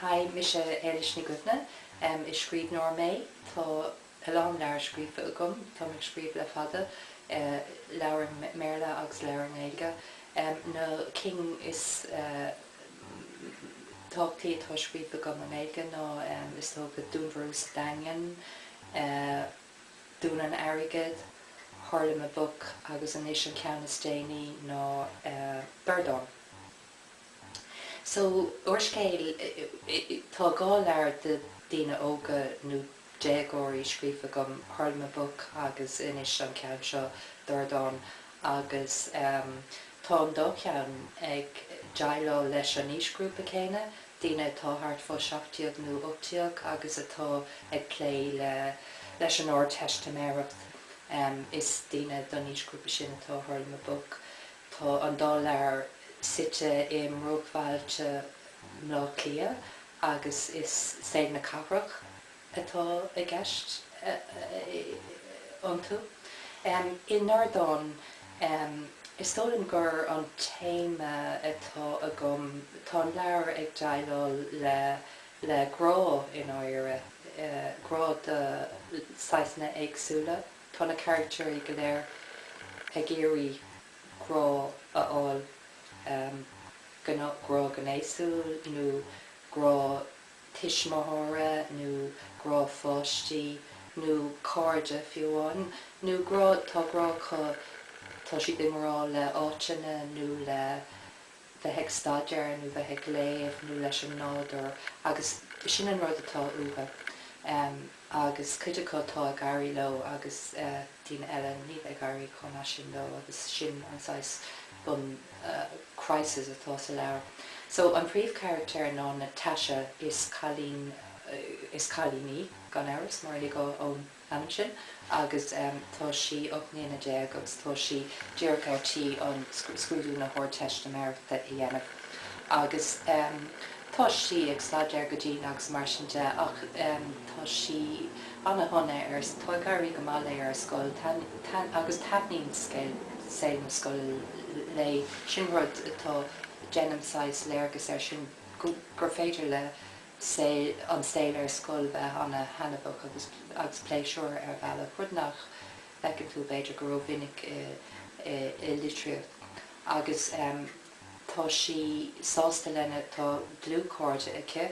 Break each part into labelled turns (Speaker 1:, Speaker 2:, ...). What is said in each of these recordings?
Speaker 1: Haigh, mise Éilis Ní Dhuibhne. Is scríbhneoir mé. Tá a lán leabhar scríofa agam. Táim ag scríobh le fada, leabhair i mBéarla agus leabhair i nGaeilge. Na cinn is tábhachtaí atá scríofa agam i nGaeilge ná, is dócha, Dúnmharú sa Daingean, Dún an Airgid, Hurlamaboc agus anois an ceann is déanaí ná Dordán. So úrscéal, tá dhá leabhar do dhaoine óga nó déagóirí scríofa agam, Hurlamaboc agus anois an ceann seo, Dordán, agus tá an dá cheann ag déileáil leis an aoisghrúpa céanna, daoine atá thart fá seacht déag nó ocht déag agus atá ag plé leis an Ardteistiméireacht, is daoine don aoisghrúpa sin atá Hurlamaboc. Tá an dá leabhar suite i mbruachbhailte mBleá Cliath agus is saol na cathrach atá i gceist iontu. I nDordán, is dóigh liom gur an téama atá agam, tá an leabhar ag déileáil le le grá, i ndáiríre, grá de saghsanna éagsúla. Tá na carachtair go léir ag iarraidh grá a fháil, grá gnéasúil nó grá tuismitheora nó grá páistí nó cairde fiú amháin, nó grá, tá grá acu, tá siad i ngrá le áiteanna nó le bheith ag staidéar nó bheith ag léamh nó leis an nádúr agus sin an rud atá uathu agus cuid acu tá ag éirí leo agus daoine eile níl ag éirí chomh maith sin leo agus sin an saghas bun crisis atá sa leabhar. So an príomhcharachtar ná Natasha is cailín is cailín í gan amhras mar is léir ón. ainm sin agus tá sí ocht mbliana déag agus tá sí díreach ar tí an scrúdú na hArdteistiméireachta a dhéanamh agus tá sí ag staidéar go dian agus mar sin de ach tá sí ana-shona ar tá ag éirí go maith léi ar scoil agus taitníonn saol na scoile léi, sin rud atá déanaim saghas léargas air sin gur féidir le an saol ar scoil bheith an-thaitneamhach agus agus pléisiúr ar bhealach, rud nach bhfeiceann tú b'fhéidir go rómhinic i i litríocht. Agus em tá sí sásta lena, tá dlúthchairde aici,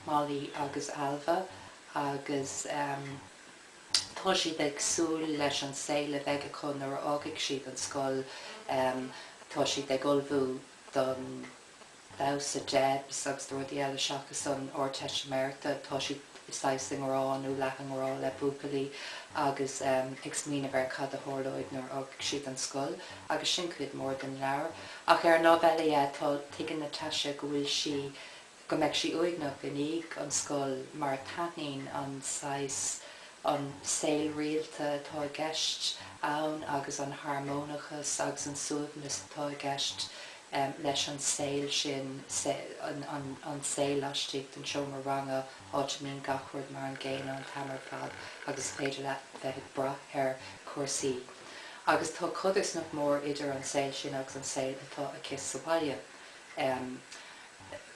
Speaker 1: Molly agus Ailbhe, agus em tá siad ag súil leis an saol a bheidh acu nuair a fhágfaidh siad an scoil, em tá siad ag ullmhú don, Damhsa Debs, agus rudaí eile seachas an Ardteistiméireachta, tá siad saghas i ngrá, nó leath i ngrá, le buachaillí agus ag smaoineamh ar cad a tharlóidh nuair a fhágfaidh siad an scoil, agus sin cuid mhór den leabhar. Ach ar an lámh eile dhe, tá, tuigeann Natasha go bhfuil sí, go mbeidh sí uaigneach i ndiaidh an scoil mar taitníonn an saghas, an saol rialta atá i gceist ann agus an harmónachas agus an suaimhneas atá i gceist em, leis an saol sin, se, an, an, an saol laistigh den seomra ranga, áit a mbíonn gach rud mar an gcéanna an t-am ar fad agus is féidir leat bheith ag brath ar chúrsaí. Agus tá codarsnacht mhór idir an saol sin agus an saol atá aici sa bhaile. Em.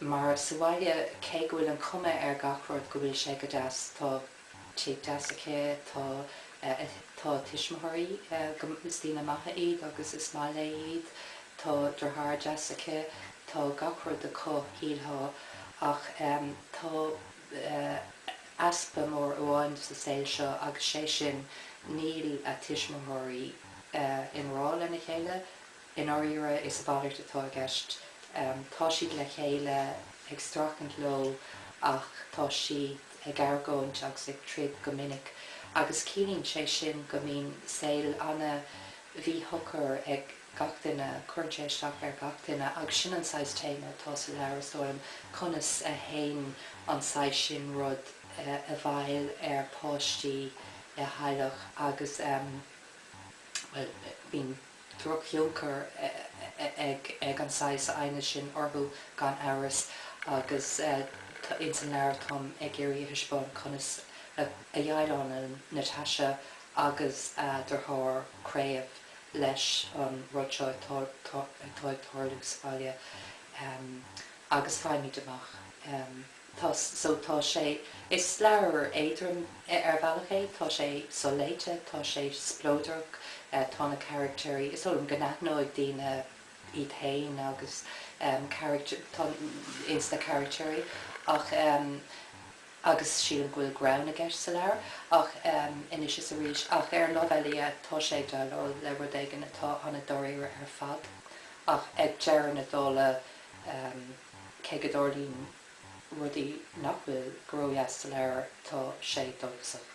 Speaker 1: mar sa bhaile, cé go bhfuil an chuma ar gach rud go bhfuil sé go deas, tá. teach deas aici, tá tá tuismitheoirí go is daoine maithe iad agus is maith léi iad, tá deartháir deas aici, tá gach rud acu, shílfeá, ach tá easpa mór amháin sa saol seo agus sé sin níl a tuismitheoirí i ngrá lena chéile, I ndáiríre is a mhalairt atá i gceist. Tá siad le chéile, ag streachailt leo ach tá siad ag argóint agus ag troid go minic agus ciallaíonn sé sin go mbíonn saol an-mhíshocair ag gach duine, cuireann sé isteach ar gach duine agus sin an saghas téama atá sa leabhar is dóigh liom, conas a théann an saghas sin rud i bhfeidhm ar pháistí i dteaghlach agus, bhuel, bíonn. drochthionchar ag an saghas aighnis sin orthu gan amhras agus tá ins an leabhar táim ag iarraidh a thaispeáint conas a dheighleálann Natasha agus a deartháir Craobh leis an rud seo atá ag tarlú sa bhaile agus faighimid amach. Tá, so tá sé, is leabhar éadrom ar bhealach é, tá sé so-léite, tá sé spleodrach, tá na caraictéirí, is dóigh liom go n-aithneoidh daoine iad fhéin agus ins na caraictéirí ach agus sílim go bhfuil greann i gceist sa leabhar ach anois is arís ach ar an lámh eile dhe, tá sé ag déileáil le rud éigin atá an-dáiríre ar fad ach ag deireadh na dála, Cé go dtarlaíonn rudaí nach bhfuil ródheas sa leabhar, tá sé dóchasach.